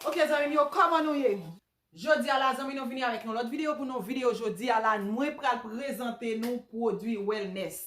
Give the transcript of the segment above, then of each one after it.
Ok zanmim yo koman nou ye? Jodia la zanmi nou vini avèk yon lòt video pou nou video jodia la mwen pral prezante nou pwodwi wellness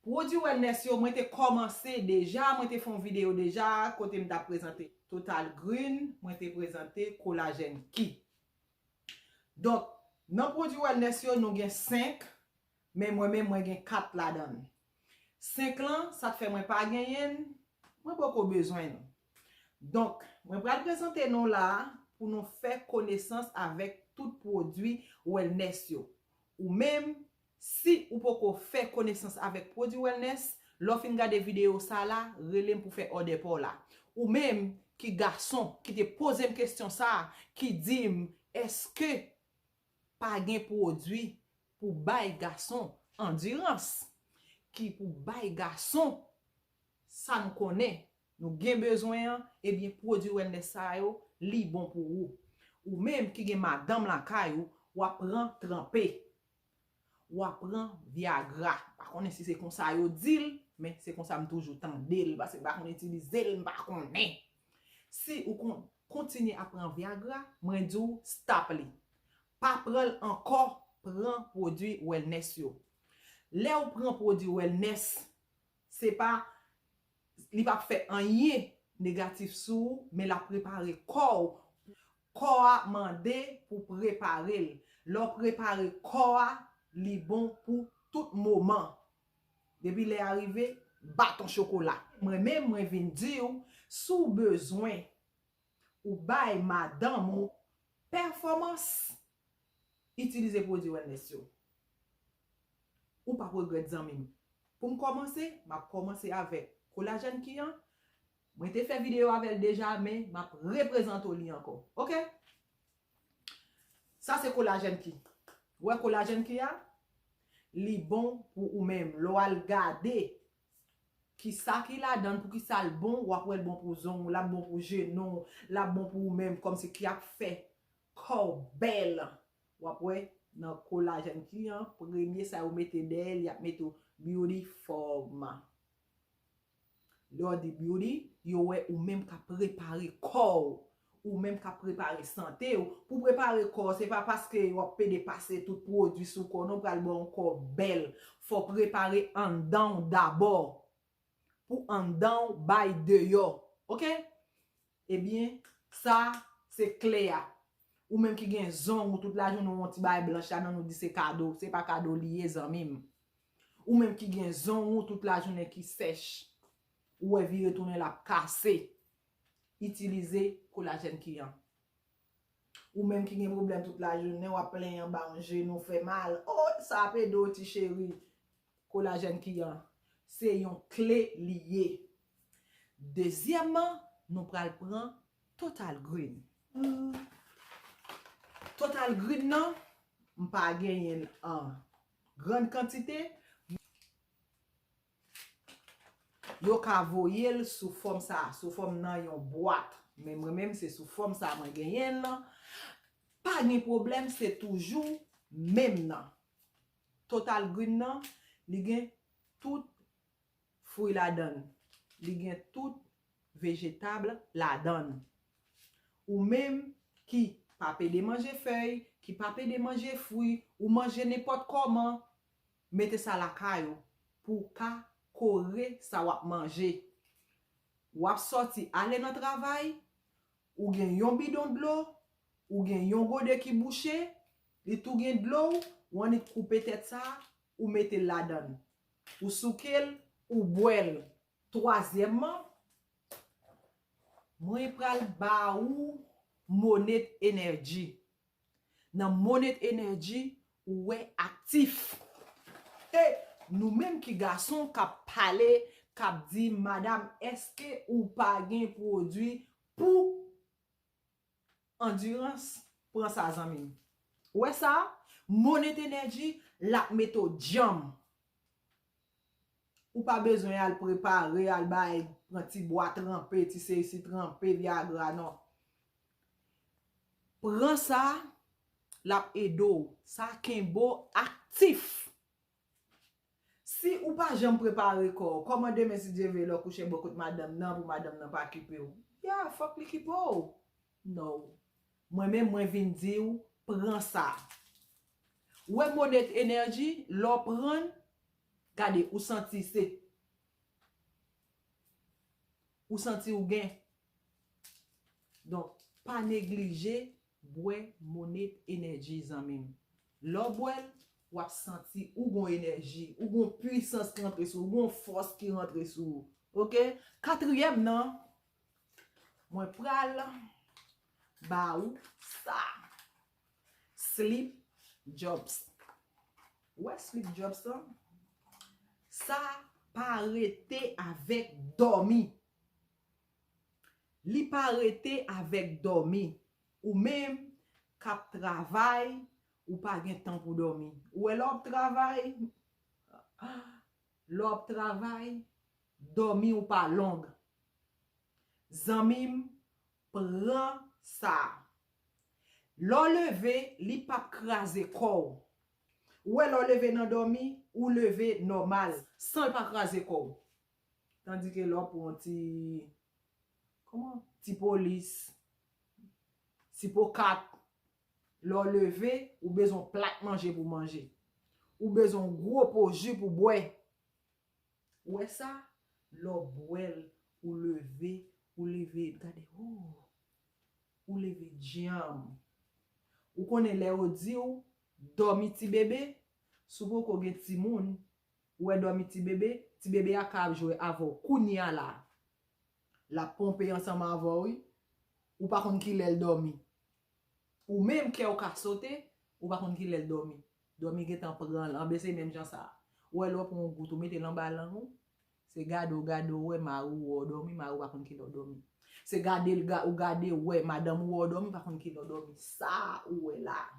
pwodwi wellness yo mwen te kòmanse deja mwen te fè yon video deja kote m tap prezante total green mwen te prezante kolajen ki Donk, nan pwodui wellness yo nou gen 5, men mwen menm mwen gen 4 ladan l. 5 lan, sa k fè mwen pa genyen l, mwen poko bezwen l. Donk, mwen pral prezante nou la a pou nou fè konesans avèk tout pwodui wellness yo. Ou menm, Si ou poko fè konesans avèk pwodwi wellness, lè w fin gade videyo sa a la, rele m pou w fè òdè pa w la. Ou menm ki gason ki te poze m kesyon sa a, ki di m èske pa gen pwodwi pou bay gason andirans, ki pou bay gason sa nou konnen nou gen bezwen an, ebyen pwodwi wellness sa yo, li bon pou ou. Ou menm ki gen madanm lakay ou, w ap pran tranpe. Wa pran viagra. Pa konnen si se konsa yo di l, men se konsa m toujou tande l, pase m pa konn itilize l, m pa konnen. Si ou kon, kontinye ap pran viagra, mwen di w stop li. Pa pran l ankò, pran pwodui wellness yo. Lè ou pran pwodui wellness, se pa, li pa p fè anyen negatif sou ou, men l ap prepare kò ou Kò a mande pou prepare l. Lè w prepare kò a, li bon pou tout moman. Depi lè a rive, bat on chokola. Mwen menm mwen vin di w, si w bezwen ou bay madanm ou pèfòmans, itilize pwodui wellness yo. Ou p ap regrèt zanmi m. Pou m kòmanse, m ap kòmanse avèk kolajèn ki an, Mwen te fè video avèl deja men map reprezante w li ankò ok sa se kolajèn ki ou wè kolajèn ki a li bon pou ou menm lè w al gade kisa ki ladann poukisa l bon wap wè l bon pou zong w lap bon pou jenou w lap bon pou ou menm kòmsi ki ap fè kò w bèl wap wè nan kolajèn ki an premye sa yo mete dèyè l yap mete w beauty forma Dordy Beauty, yo wè ou menm kap prepare kò ou, ou menm kap prepare sante ou, pou prepare kò ou se pa paske wap pede pase tout pwodwi sou kò non pral baw yon kò bèl, fò prepare anndanw dabò pou anndanw bay deyò ok. Ebyen, sa, se kle a. Ou menm ki gen zong ou tout lajounen ou wè yon ti bagay blanch la nan ou di se kado, se pa kado li ye zanmi m. Ou menm ki gen zong ou tout lajounen ki sèch, ou wè vire tounen l ap kase, itilize kolajèn ki an. Ou menm ki gen pwoblèm tout lajounen w ap plenyen ba w jenou fè mal, o, sa ap ede w ti cheri. Kolajèn ki an, se yon kle li ye. Dezyèman, nou pral pran Total Green. Total Green nan, m pa genyen l an grand kantite. Yo ka voye l sou fòm sa a, sou fòm nan yon bwat. Men mwen menm se sou fòm sa a mwen genyen l lan. Pa gen pwoblèm, se toujou menm nan. Total green nan li gen tout fwi ladann, li gen tout vegetable ladann. Ou menm ki pa pede manje fèy, ki pa pede manje fwi, ou manje nenpòt kòman, mete sa lakay ou pou w ka kore sa w ap manje. W ap sòti ale nan travay, Ou gen yon bidon dlo, ou gen yon gode ki bouche, li tou gen dlo w, ou annik koupe tèt sa, ou mete l ladann. Ou souke l, ou bwè l. Twazyèmman, mwen pral ba ou Monét Energy. Nan Monet Energy ou wè aktif. E nou menm ki gason kap pale kap di madam eske ou pa gen pwodwi pou andirans pran sa zanmim. Ou wè sa Monet Energy lap mete w dyanm. Ou pa bezwen al prepare, al bay, pran ti bwa tranpe, ti sesi tranpe, viagra non. Pran sa, l ap ede w. Sa kenbe w aktif. Si ou pa janm prepare kò w, kòman demen si Dye vle lè w kouche bò kot madanm nan pou madanm nan pa kipe w? Ya, fòk li kipe w. No. Mwen menm mwen vin di w pran sa. Ou wè Monét Energy lè w pran l gade ou santi se ou santi ou gen. Donk pa neglije bwè Monét Energy zanmi m. Lè w bwè l w ap santi ou gon enèji, ou gon pwisans ki rantre sou ou, ou gon fòs ki rantre sou ou. Ok. Katriyèm nan Mwen pral ba ou sa. Slip jobs. Ou wè slip jobs lan? Sa pa rete avèk dòmi. Li pa rete avèk dòmi. Ou menm k ap travay, ou pa gen tan pou dòmi. Ou wè lè w ap travay, lè w ap travay, Domi ou pa long. Zanmim pran sa. Lè w leve li pap kraze kò w. Ou wè lè w leve nan domi ou leve nòmal san l pa kraze kò w. Tandi ke lè w pran yon ti Kòman? Ti polis, ti po kat, lè w leve ou bezwen yon plat manje pou w manje. Ou bezwen yon gwo po ji pou w bwè. Ou wè sa? Lè w bwè l, ou leve, ou leve, gade ooh! Ou leve djanm. Ou konnen lè yo di w, dòmi ti bebe, si w poko gen timoun, ou wè dòmi ti bebe, ti bebe a ka ap jwe avè w kounye a la a. L ap ponpe ansanm avè w wi. Ou pa konn ki lè l dòmi. Ou menm kè w ka sote, ou pa konn ki lè l dòmi. Dòmi gentan pran l, anben se menm jan sa a. Ou wè lè w pran yon goute ou mete l anba lang ou, se gade w gade w wè mari w wè w dòmi, mari w pa konn ki lè w dòmi. Se gade l ou gade w wè madanm ou wè w dòmi, pa konn ki lè w dòmi. Sa a ou wè la a.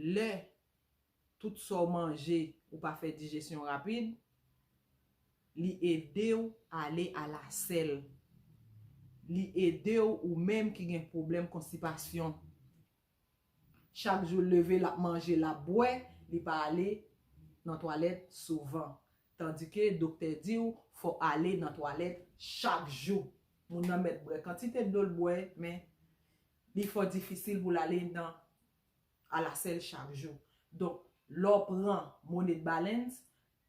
Lè tout sa w manje ou pa fè dijesyon rapid, li ede w ale a la sèl. Li ede w ou menm ki gen pwoblèm konstipasyon. Chak jou l leve l ap manje l ap bwè, li pa ale nan twalèt souvan. Tandike doktè di w fò w ale nan twalèt chak jou. Moun nan mèt bwè kantite dlo l bwè men Li fò difisil pou l ale nan alasèl chak jou. Donk, lè w pran Moned Balance,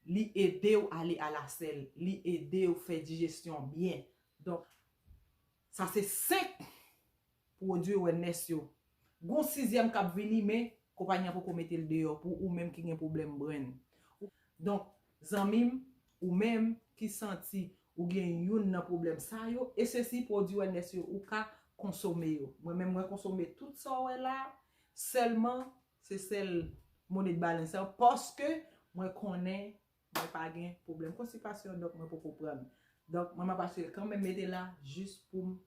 li ede w ale alasèl. Li ede w fè dijestyon byen. Donk, sa se 5 pwodui wèlnès yo. Gen yon sizyèm k ap vini men konpayi an poko mete l deyò pou ou menm ki gen pwoblèm brenn. Donk, Zanmim, ou menm, ki santi, ou gen youn nan pwoblèm sa yo, esesi pwodwi wèlnès yo ou ka, konsome yo. Mwen menm mwen konsome tout sa w wè la, sèlman, se sèl, mone de balens lan, paske, mwen konnen, mwen pa gen, pwoblèm konstipasyon, donk mwen poko prann. Donk, mwen map asire kan menm mete la, jis poum,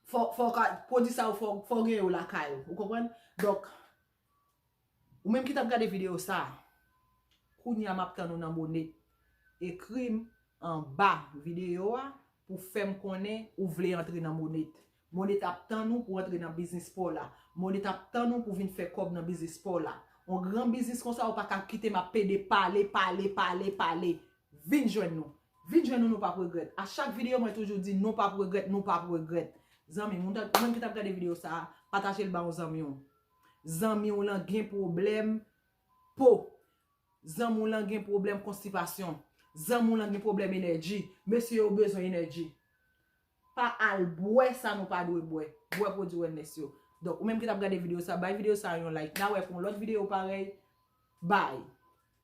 fò, fò ka, pwodwi sa yo fò, fò gen yo lakay ou, ou konprann? Donk, Ou menm ki tap gade video sa Kounya map tann ou nan bone Ekrim anba video a pou fèm konnen ou vle antre nan bone Bone tap tann ou pou antre nan biznis paw la Bone tap tann ou pou vin fè kòb nan biznis paw la On gran biznis konsa ou paka kitem ap pede pale pale pale pale Vin jwenn nou Vin jwenn nou nou pap regrèt A chak video mwen toujou di nou pap regrèt nou pap regrèt Zanmi ou menm ki tap gade video sa Patajel ba on zanmiw Zanmi w lan gen pwoblèm po. Zanmi w lan gen pwoblèm konstipasyon. Zanmi w lan gen pwoblèm enèji. Mesye yo bezwen enèji. Pa al bwè sa nou pa dwe bwè. Bwè pwodui wellness yo. Donk ou menm ki t ap gade videyo sa, bay videyo sa yon like. N a wè pou yon lòt videyo parèy. Bye!